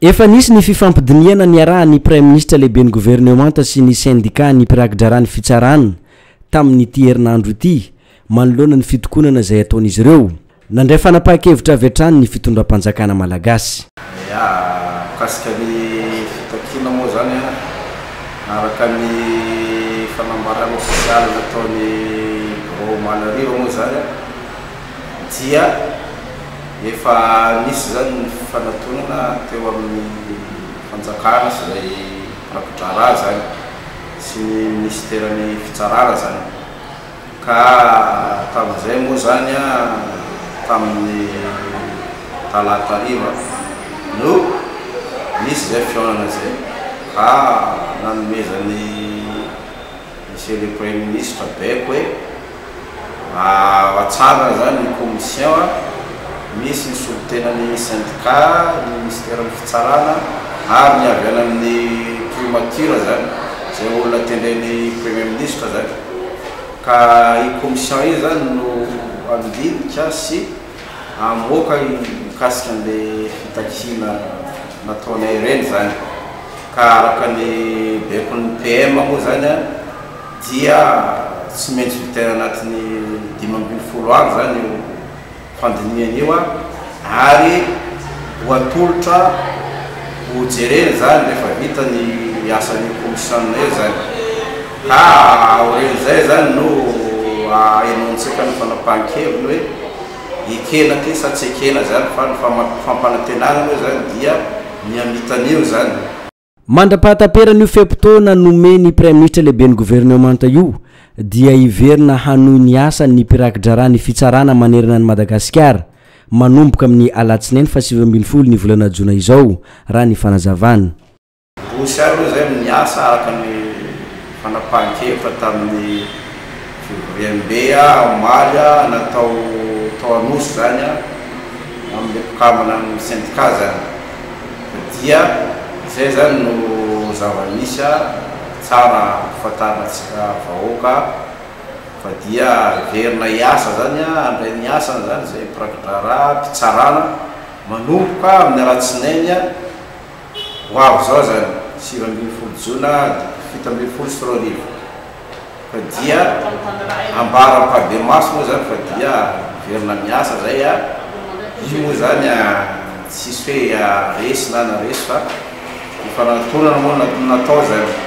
Efa nisy ny fifampidinihana niarahan'ny Praiminisitra Lehiben'ny Governemanta sy ny Sendikà ny mpirakidraharaha ny Fitsarana tamin'ity herinandro ity manoloana ny fitokonana izay ataon'izy ireo. Nandray fanapahan-kevitra avy hatrany ny fitondram-panjakana malagasy. Ya, mikasika ny fitakiana moa izany, araka ny fanambarana ofisialy nataon'ny birao omaly hariva moa izany, dia efa nisy izany ny fifanatonana teo amin'ny fanjakana sy izay rafidraharaha izany sy ny minisiteran'ny fitsarana izany ka tamin'izay moa izany tamin'ny talata hariva no nisy izay fihaonana izay ka nanomezan'ny Monsieur le Premier Ministre Beko e! Ao an-tsarona izany ny commission a, misy ny solontenan'ny syndicat, ny minisiteran'ny fitsarana ary ny avy any amin'ny primature izany, izay olona tendren'ny Premier Ministre izany. Ka io commission io izany no handinika sy Hamoaka io mikasika an'ilay fitakiana nataonay ireny izany ka araka ny baikon'ny PM moa izany dia tsy maintsy vitaina anatin'ny dimy ambin'ny folo andro izany io fandinihana io ary ho atolotra ho jerena izany rehefa vita ny asan'io kaomisionina io izany. Ka aorian'izay izany no ahenoantsika ny fanapahan-keviny hoe ekena ity sa tsy ekena izany fa ny fampanantenana moa izany dia ny hamitana io izany. Mandra-pahataperan'io fe-potoana nomen'ny Praiminisitra Lehiben'ny Governemanta io dia hiverina hanohy ny asany ny mpiraki-draharaha ny fitsarana manerana an'i Madagasikara, manomboka amin'ny alatsinainy fahasivy ambin'ny folo ny volana jona izao, raha ny fanazavana. Rossy ary moa izay no niasa araka ny fanapahan-kevitra tamin'ny fivoriambe omaly natao tao Anosy izany amin'ilay mpikambana amin'ny sendika izany fa dia izay izany no zava-misy tsara hahafantarantsika vahoaka fa dia hiverina hiasa izany handray ny asany izany izay mpiraki-draharaha mpitsarana manomboka amin'ny alatsinainy Ho avy izao izany, sivy ambin'ny folo jona fito ambin'ny folo sy roa arivo, fa dia ambara am-pahadiamaso moa izany fa dia miverina miasa izay a! Io moa izany a, tsisy hoe a resy na na resy fa hifanantonana moa no natao izany.